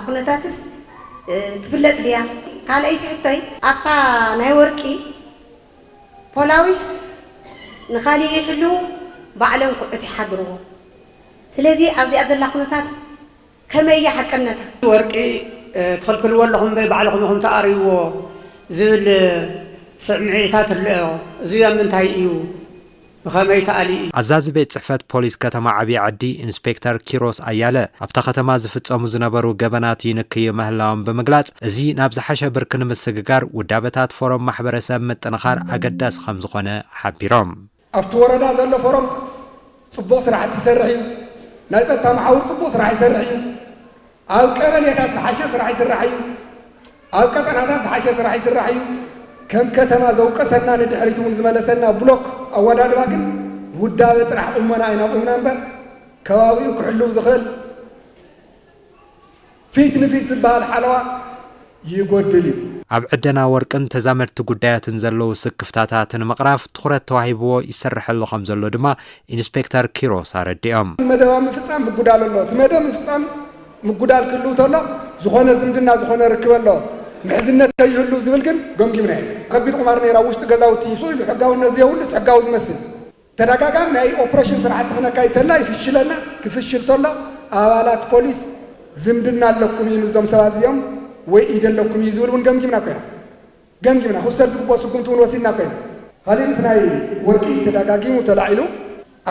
ኩነታትስ ትፍለጥ ድያ? ካልኣይቲ ሕቶይ። ኣብታ ናይ ወርቂ ፖላዊስ ንካሊእ ይሕልዉ ባዕሎም ኩዕት ይሓድርዎ። ስለዚ ኣብዚኣ ዘላ ኩነታት ከመይ እያ ሓቅነታ? ወርቂ ትኽልክልዎ ኣለኹም በይ ባዕልኹም ኢኹም ትኣርይዎ ዝብል ስዕምዒታት እልኦ እዙይ ኣብ ምንታይ እዩ ብኸመይ ተኣልዩ እዩ? ኣዛዚ ቤት ፅሕፈት ፖሊስ ከተማ ዓብዪ ዓዲ ኢንስፔክተር ኪሮስ ኣያለ ኣብታ ከተማ ዝፍፀሙ ዝነበሩ ገበናት ይንክዩ ምህላዎም ብምግላፅ እዚ ናብ ዝሓሸ ብርኪ ንምስግጋር ውዳበታት ፎረም ማሕበረሰብ ምጥንኻር ኣገዳሲ ከምዝኾነ ሓቢሮም። ኣብቲ ወረዳ ዘሎ ፎረም ፅቡቕ ስራሕቲ ይሰርሕ እዩ። ናይ ፀፅታ መሓውር ፅቡቕ ስራሕ ይሰርሕ እዩ። ኣብ ቀበሌታት ዝሓሸ ስራሕ ይስራሕ እዩ። ኣብ ቀጠናታት ዝሓሸ ስራሕ ይስራሕ እዩ። ከም ከተማ ዘውቀሰና ንድሕሪት እውን ዝመለሰና ብሎክ ኣወዳድባ ግን ውዳበ ጥራሕ ቁመና ኢና ቁምና እምበር ከባቢኡ ክሕልው ዝኽእል ፊት ንፊት ዝበሃል ሓለዋ ይጎድል እዩ። ኣብ ዕደና ወርቅን ተዛመድቲ ጉዳያትን ዘለዉ ስክፍታታት ንምቕራፍ ትኹረት ተዋሂብዎ ይስርሐሉ ከምዘሎ ድማ ኢንስፔክተር ኪሮስ ኣረዲኦም። መደባ ምፍፃም ምጉዳል ኣሎ። እቲ መደብ ምፍፃም ምጉዳል ክህልው ተሎ ዝኾነ ዝምድና ዝኾነ ርክበ ኣሎ ምሕዝነት ከይህሉ ዝብል ግን ገምጊምና የለን። ከቢድ ቁማር ነይሩ ኣብ ውሽጢ ገዛውቲ ስኢሉ ሕጋውነት ዘየብሉስ ሕጋዊ ዝመስል። ተደጋጋሚ ናይ ኦፕረሽን ስራሕቲ ክነካይድ ተለና ይፍሽለና፣ ክፍሽል ተሎ ኣባላት ፖሊስ ዝምድና ኣለኩም እዩ ምስዞም ሰባት እዚኦም ወይ ኢድ ኣለኩም እዩ ዝብል እውን ገምጊምና ኮይና ገምጊምና ክውሰድ ዝግብኦ ስጉምቲ እውን ወሲድና ኮይና። ካሊእ ምስ ናይ ወርቂ ተደጋጊሙ ተላዒሉ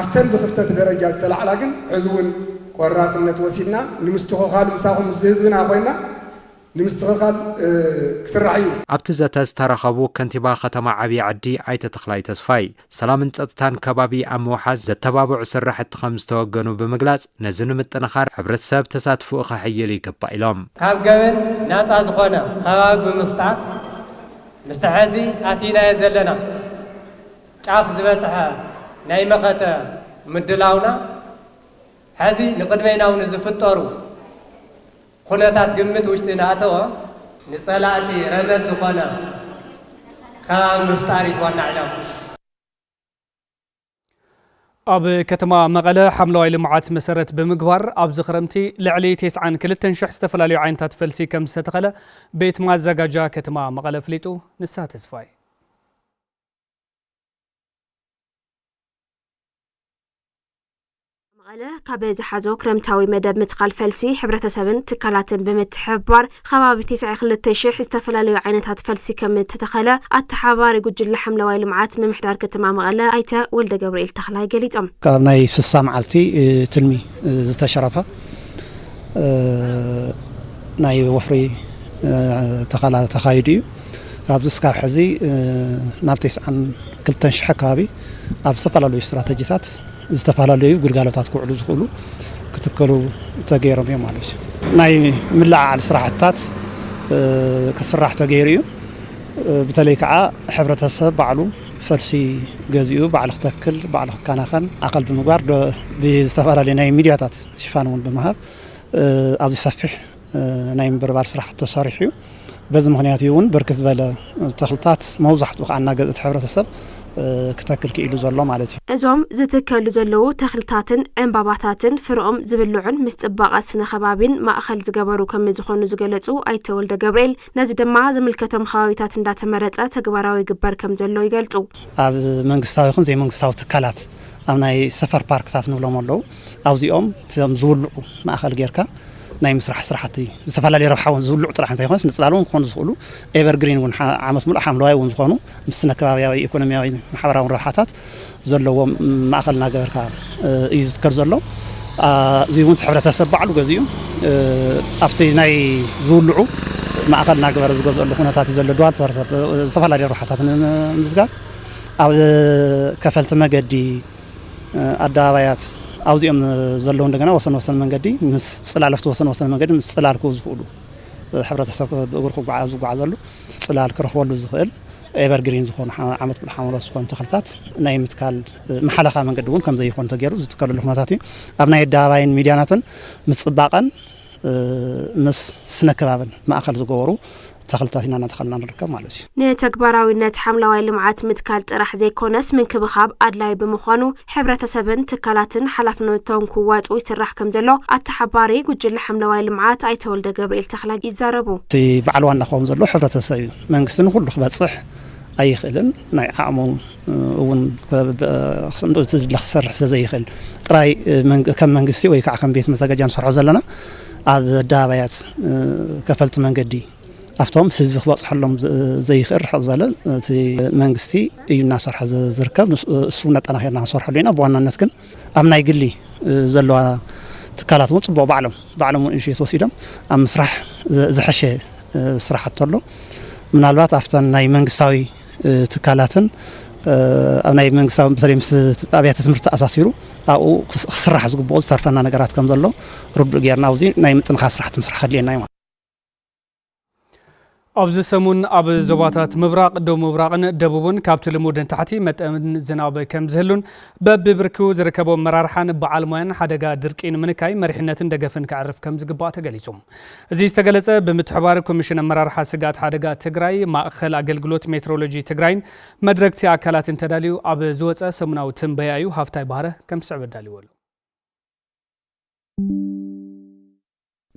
ኣብተን ብክፍተት ደረጃ ዝተላዕላ ግን ሕዚ እውን ቆራፅነት ወሲድና ንምስትኽኻሉ ምሳኹም ምስ ህዝብና ኮይና ንምስትኽኻል ክስራሕ እዩ። ኣብቲ ዘተ ዝተረኸቡ ከንቲባ ከተማ ዓብይ ዓዲ ኣይተ ተኽላይ ተስፋይ ሰላምን ፀፅታን ከባቢ ኣብ ምውሓስ ዘተባብዑ ስራሕቲ ከምዝተወገኑ ብምግላፅ፣ ነዚ ንምጥንኻር ሕብረተሰብ ተሳትፍኡ ከሐይል ይግባእ ኢሎም። ካብ ገበን ናፃ ዝኾነ ኸባቢ ብምፍጣር ምስቲ ሐዚ ኣቲናዮ ዘለና ጫፍ ዝበፅሐ ናይ መኸተ ምድላውና ሐዚ ንቕድሜናው ንዝፍጠሩ ኩነታት ግምት ውሽጢ እናኣተወ ንፀላእቲ ረመፅ ዝኾነ ከባቢ ምፍጣር እዩ እቲ ዋና ዕላምኡ። ኣብ ከተማ መቐለ ሓምለዋይ ልምዓት መሰረት ብምግባር ኣብዚ ክረምቲ ልዕሊ ቴስዓን ክልተን ሽሕ ዝተፈላለዩ ዓይነታት ፈልሲ ከምዝተተኸለ ቤት ማዘጋጃ ከተማ መቐለ ኣፍሊጡ። ንስሃ ተስፋይ መቐለ ካብ ዝሓዞ ክረምታዊ መደብ ምትካል ፈልሲ ሕብረተሰብን ትካላትን ብምትሕብባር ከባቢ ትስዒ ክልተ ሽሕ ዝተፈላለዩ ዓይነታት ፈልሲ ከም እተተኸለ ኣተሓባሪ ጉጅለ ሓምለዋይ ልምዓት ምምሕዳር ከተማ መቐለ ኣይተ ወልደ ገብርኤል ተኽላይ ገሊፆም። ካብ ናይ ስሳ መዓልቲ ትልሚ ዝተሸረፈ ናይ ወፍሪ ተኸላ ተኻይዱ እዩ። ኣብዚ ስካብ ሕዚ ናብ ቴስዓን ክልተን ሽሕ ኣከባቢ ኣብ ዝተፈላለዩ ስትራተጂታት ዝተፈላለዩ ግልጋሎታት ክውዕሉ ዝኽእሉ ክትከሉ ተገይሮም እዮም ማለት እዩ። ናይ ምልዕዓል ስራሕትታት ክስራሕ ተገይሩ እዩ። ብተለይ ከዓ ሕብረተሰብ ባዕሉ ፈልሲ ገዚኡ ባዕሉ ክተክል ባዕሉ ክከናኸን ኣኸል ብምግባር ብዝተፈላለዩ ናይ ሚድያታት ሽፋን እውን ብምሃብ ኣብዚ ሰፊሕ ናይ ምብርባር ስራሕቲ ተሰሪሑ እዩ። በዚ ምክንያት እዩ እውን ብርክት ዝበለ ተክልታት መብዛሕትኡ ከዓ እናገዝእ እቲ ሕብረተሰብ ክተክል ክኢሉ ዘሎ ማለት እዩ። እዞም ዝትከሉ ዘለዉ ተክልታትን ዕንባባታትን ፍረኦም ዝብልዑን ምስ ፅባቐ ስነ ከባቢን ማእኸል ዝገበሩ ከምዝኾኑ ዝገለፁ ኣይተ ወልደገብርኤል፣ ነዚ ድማ ዝምልከቶም ከባቢታት እንዳተመረፀ ተግባራዊ ይግበር ከምዘሎ ይገልፁ። ኣብ መንግስታዊ ይኹን ዘይመንግስታዊ ትካላት ኣብ ናይ ሰፈር ፓርክታት ንብሎም ኣለዉ። ኣብዚኦም ከም ዝውልዑ ማእኸል ጌርካ ናይ ምስራሕ ስራሕቲ ዝተፈላለዩ ረብሓ እውን ዝውልዑ ጥራሕ እንተይኮነስ ንፅላል እውን ክኾኑ ዝኽእሉ ኤቨር ግሪን እውን ዓመት ሙሉእ ሓምለዋይ እውን ዝኾኑ ምስ ስነ ከባብያዊ ኢኮኖሚያዊ ማሕበራውን ረብሓታት ዘለዎም ማእኸል እናገበርካ እዩ ዝትከል ዘሎ እዚ እውን ሕብረተሰብ ባዕሉ ገዚኡ ኣብቲ ናይ ዝውልዑ ማእኸል እናገበረ ዝገዝአሉ ኩነታት እዩ ዘሎ ድዋል ፐርሰፕ ዝተፈላለዩ ረብሓታት ንምምዝጋብ ኣብ ከፈልቲ መገዲ ኣደባባያት ኣብዚኦም ዘለዉ እንደገና ወሰን ወሰን መንገዲ ምስ ጽላለፍቲ ወሰን ወሰን መንገዲ ምስ ጽላል ክው ዝኽእሉ ሕብረተሰብ ብእግሩ ክጓዓዝ ዝጓዓዘሉ ጽላል ክረኽበሉ ዝኽእል ኤቨርግሪን ዝኾኑ ዓመት ሙሉ ሓምለዎት ዝኾኑ ተኽልታት ናይ ምትካል መሓለኻ መንገዲ እውን ከምዘይኾኑ ተገይሩ ዝትከልሉ ኩነታት እዩ ኣብ ናይ ኣደባባይን ሚድያናትን ምፅባቐን ምስ ስነ ከባብን ማእኸል ዝገበሩ ተኽልታት ኢና እናተኸልና ንርከብ ማለት እዩ። ንተግባራዊነት ሓምላዋይ ልምዓት ምትካል ጥራሕ ዘይኮነስ ምንክብኻብ ኣድላይ ብምዃኑ ሕብረተሰብን ትካላትን ሓላፍነቶም ክዋፅኡ ይስራሕ ከምዘሎ ኣተሓባሪ ጉጅለ ሓምለዋይ ልምዓት ኣይተ ወልደገብርኤል ተኽላይ ይዛረቡ። እቲ በዓል ዋና ክኸውን ዘለዎ ሕብረተሰብ እዩ። መንግስቲ ንኹሉ ክበፅሕ ኣይኽእልን። ናይ ዓቕሙ እውን ክንዱ እቲ ዝድለ ክሰርሕ ስለ ዘይኽእል ጥራይ ከም መንግስቲ ወይ ከዓ ከም ቤት መዘጋጃ ንሰርሖ ዘለና ኣብ ኣደባባያት ከፈልቲ መንገዲ ኣብቶም ህዝቢ ክበፅሐሎም ዘይኽእል ርሕቕ ዝበለ እቲ መንግስቲ እዩ እናሰርሐ ዝርከብ እሱ ነጠናኺርና ክንሰርሐሉ ኢና ብዋናነት ግን ኣብ ናይ ግሊ ዘለዋ ትካላት እውን ፅቡቕ ባዕሎም ባዕሎም እውን ኢኒሽት ወሲዶም ኣብ ምስራሕ ዝሐሸ ስራሕቲ ኣሎ። ምናልባት ኣብተን ናይ መንግስታዊ ትካላትን ኣብ ናይ መንግስታዊ በተለይ ምስ ኣብያተ ትምህርቲ ተኣሳሲሩ ኣብኡ ክስራሕ ዝግብኦ ዝተርፈና ነገራት ከም ዘሎ ርዱእ ጌርና ኣብዚ ናይ ምጥንኻር ስራሕቲ ምስራሕ ከድልየና እዩ። ኣብዚ ሰሙን ኣብ ዞባታት ምብራቕ፣ ደቡብ ምብራቕን ደቡብን ካብቲ ልሙድ ንታሕቲ መጠን ዝናብ ከም ዝህሉን በቢብርኪኡ ዝርከቡ ኣመራርሓን በዓል ሞያን ሓደጋ ድርቂ ንምንካይ መሪሕነትን ደገፍን ከዕርፍ ከም ዝግባእ ተገሊጹ። እዚ ዝተገለጸ ብምትሕባር ኮሚሽን ኣመራርሓ ስግኣት ሓደጋ ትግራይ፣ ማእኸል ኣገልግሎት ሜትሮሎጂ ትግራይን መድረግቲ ኣካላትን ተዳልዩ ኣብ ዝወጸ ሰሙናዊ ትንበያ እዩ። ሃፍታይ ባህረ ከም ዝስዕብ ኣዳልይዎ ኣሎ።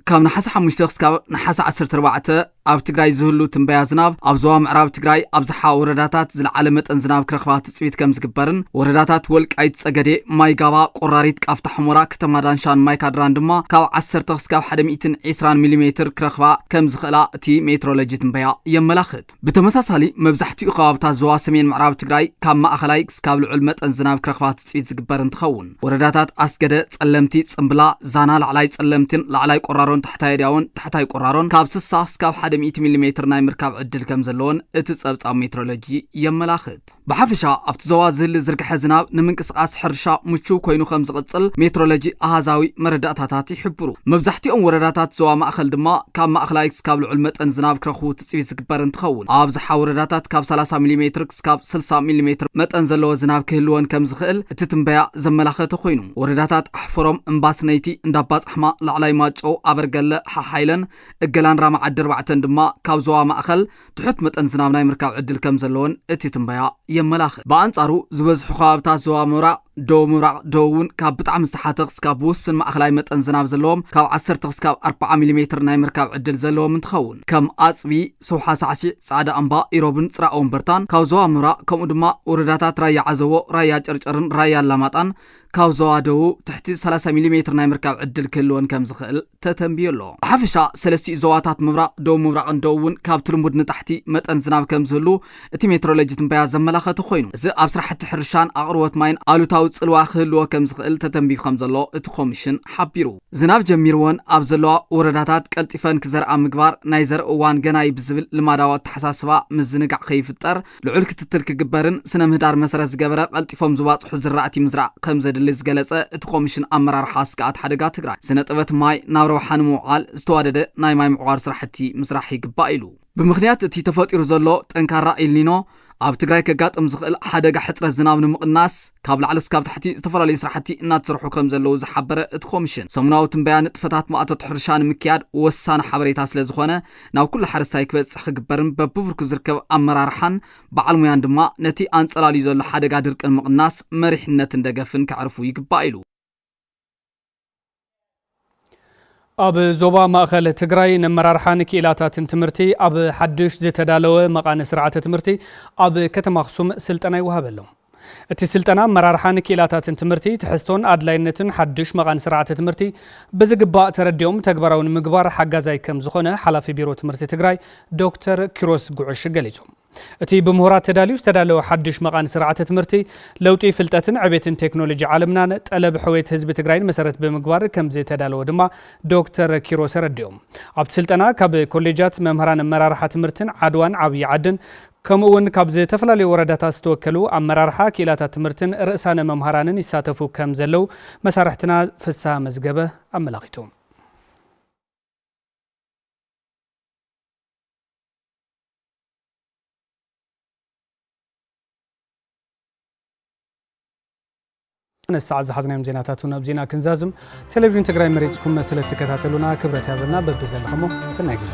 ካብ ነሓሰ ሓሙሽተ ክስካብ ነሓሰ ዓሰርተ ኣርባዕተ ኣብ ትግራይ ዝህሉ ትንበያ ዝናብ ኣብ ዞባ ምዕራብ ትግራይ ኣብዝሓ ወረዳታት ዝለዓለ መጠን ዝናብ ክረኽባ ትፅቢት ከም ዝግበርን ወረዳታት ወልቃይት ፀገዴ፣ ማይ ጋባ፣ ቆራሪት፣ ቃፍታ ሕሞራ፣ ከተማ ዳንሻን ማይ ካድራን ድማ ካብ ዓሰርተ ክስካብ ሓደ ሚእትን ዒስራን ሚሊሜትር ክረኽባ ከም ዝኽእላ እቲ ሜትሮሎጂ ትንበያ የመላኽት። ብተመሳሳሊ መብዛሕቲኡ ከባብታት ዞባ ሰሜን ምዕራብ ትግራይ ካብ ማእኸላይ ክስካብ ልዑል መጠን ዝናብ ክረኽባ ትፅቢት ዝግበር እንትኸውን ወረዳታት ኣስገደ፣ ፀለምቲ፣ ፅምብላ፣ ዛና፣ ላዕላይ ፀለምቲን ላዕላይ ቆራሮን ታሕታይ ኣድያዎን ታሕታይ ቆራሮን ካብ ስሳ ክስካብ ሓደ ሚእቲ ሚሊ ሜትር ናይ ምርካብ ዕድል ከምዘለዎን እቲ ፀብፃብ ሜትሮሎጂ የመላኽት። ብሓፈሻ ኣብቲ ዞባ ዝህሊ ዝርግሐ ዝናብ ንምንቅስቓስ ሕርሻ ምቹው ኮይኑ ከም ዝቕፅል ሜትሮሎጂ ኣሃዛዊ መረዳእታታት ይሕብሩ። መብዛሕቲኦም ወረዳታት ዞባ ማእኸል ድማ ካብ ማእኸላይ ክስካብ ልዑል መጠን ዝናብ ክረኽቡ ትፅቢት ዝግበር እንትኸውን ኣብዝሓ ወረዳታት ካብ ሰላሳ ሚሊ ሜትር ክስካብ ስልሳ ሚሊ ሜትር መጠን ዘለዎ ዝናብ ክህልወን ከም ዝኽእል እቲ ትንበያ ዘመላኸተ ኮይኑ ወረዳታት ኣሕፈሮም፣ እምባስነይቲ፣ እንዳባፃሕማ፣ ላዕላይ ማጨው፣ ኣበርገለ፣ ሓሓይለን፣ እገላን ራማ ዓዲ ኣርባዕተን ድማ ካብ ዞባ ማእኸል ትሑት መጠን ዝናብ ናይ ምርካብ ዕድል ከም ዘለወን እቲ ትንበያ የመላኽት። ብኣንጻሩ ዝበዝሑ ከባብታት ዞባ ምብራቕ፣ ደቡብ ምብራቕ፣ ደቡብ እውን ካብ ብጣዕሚ ዝተሓተ ክስካብ ብውሱን ማእከላይ መጠን ዝናብ ዘለዎም ካብ ዓሰርተ ክስካብ ኣርብዓ ሚሊሜትር ናይ ምርካብ ዕድል ዘለዎም እንትኸውን ከም ኣፅቢ፣ ሰውሓ ሳዕሲዕ፣ ፃዕዳ እምባ፣ ኢሮብን ፅራእ ወምበርታን ካብ ዞባ ምብራቕ ከምኡ ድማ ወረዳታት ራያ ዓዘቦ፣ ራያ ጨርጨርን ራያ ኣላማጣን ካብ ዞባ ደቡብ ትሕቲ ሰላሳ ሚሊ ሜትር ናይ ምርካብ ዕድል ክህልወን ከም ዝኽእል ተተንብዮ ኣሎ። ብሓፈሻ ሰለስቲኡ ዞባታት ምብራቕ፣ ደቡብ ምብራቕን ደቡብን ካብቲ ልሙድ ንታሕቲ መጠን ዝናብ ከም ዝህሉ እቲ ሜትሮሎጂ ትንበያ ዘመላኸተ ኮይኑ፣ እዚ ኣብ ስራሕቲ ሕርሻን ኣቕርቦት ማይን ኣሉታዊ ጽልዋ ክህልዎ ከም ዝኽእል ተተንብዩ ከም ዘሎ እቲ ኮሚሽን ሓቢሩ። ዝናብ ጀሚርወን ኣብ ዘለዋ ወረዳታት ቀልጢፈን ክዘርኣ ምግባር፣ ናይ ዘርኢ እዋን ገና'ዩ ብዝብል ልማዳዊ ኣተሓሳስባ ምዝንጋዕ ከይፍጠር ልዑል ክትትል ክግበርን ስነ ምህዳር መሰረት ዝገበረ ቀልጢፎም ዝባፅሑ ዝራእቲ ምዝራእ ከምዘድሊ ዝገለፀ እቲ ኮሚሽን ኣመራርሓ ስግኣት ሓደጋ ትግራይ ስነ ጥበት ማይ ናብ ረብሓ ንምውዓል ዝተዋደደ ናይ ማይ ምዕቋር ስራሕቲ ምስራሕ ይግባእ ኢሉ። ብምኽንያት እቲ ተፈጢሩ ዘሎ ጠንካራ ኢልኒኖ ኣብ ትግራይ ከጋጥም ዝኽእል ሓደጋ ሕፅረት ዝናብ ንምቕናስ ካብ ላዕሊ እስካብ ታሕቲ ዝተፈላለዩ ስራሕቲ እናተሰርሑ ከምዘለዉ ዝሓበረ እቲ ኮሚሽን ሰሙናዊ ትንበያ ንጥፈታት ማእቶት ሕርሻ ንምክያድ ወሳኒ ሓበሬታ ስለዝኾነ ናብ ኩሉ ሓረስታይ ክበፅሕ ክግበርን በቢብርኩ ዝርከብ ኣመራርሓን በዓል ሙያን ድማ ነቲ ኣንፀላልዩ ዘሎ ሓደጋ ድርቂ ንምቕናስ መሪሕነትን ደገፍን ከዕርፉ ይግባእ ኢሉ። ኣብ ዞባ ማእኸል ትግራይ ነመራርሓን ክኢላታትን ትምህርቲ ኣብ ሓዱሽ ዝተዳለወ መቓኒ ስርዓተ ትምህርቲ ኣብ ከተማ ኣኽሱም ስልጠና ይወሃበሎም። እቲ ስልጠና ኣመራርሓ ንክኢላታትን ትምህርቲ፣ ትሕዝቶን ኣድላይነትን ሓዱሽ መቓን ስርዓተ ትምህርቲ ብዝግባእ ተረዲኦም ተግባራዊ ንምግባር ሓጋዛይ ከምዝኾነ ሓላፊ ቢሮ ትምህርቲ ትግራይ ዶክተር ኪሮስ ጉዕሽ ገሊፆም። እቲ ብምሁራት ተዳልዩ ዝተዳለወ ሓዱሽ መቓን ስርዓተ ትምህርቲ ለውጢ ፍልጠትን ዕቤትን ቴክኖሎጂ ዓለምናን ጠለብ ሕውየት ህዝቢ ትግራይን መሰረት ብምግባር ከምዝተዳለወ ድማ ዶክተር ኪሮስ ኣረዲኦም። ኣብቲ ስልጠና ካብ ኮሌጃት፣ መምህራን ኣመራርሓ ትምህርትን ዓድዋን ዓብዪ ዓድን ከምኡ እውን ካብ ዝተፈላለዩ ወረዳታት ዝተወከሉ ኣመራርሓ ክኢላታት ትምህርትን ርእሳነ መምሃራንን ይሳተፉ ከም ዘለው መሳርሕትና ፍስሃ መዝገበ ኣመላኺቱ። ነዚ ሰዓት ዝሓዝናዮም ዜናታት እውን ኣብዚና ክንዛዝም። ቴሌቪዥን ትግራይ መሪፅኩም ስለ እትከታተሉና ክብረት ያበልና። በብዘለኸሞ ሰናይ ግዜ።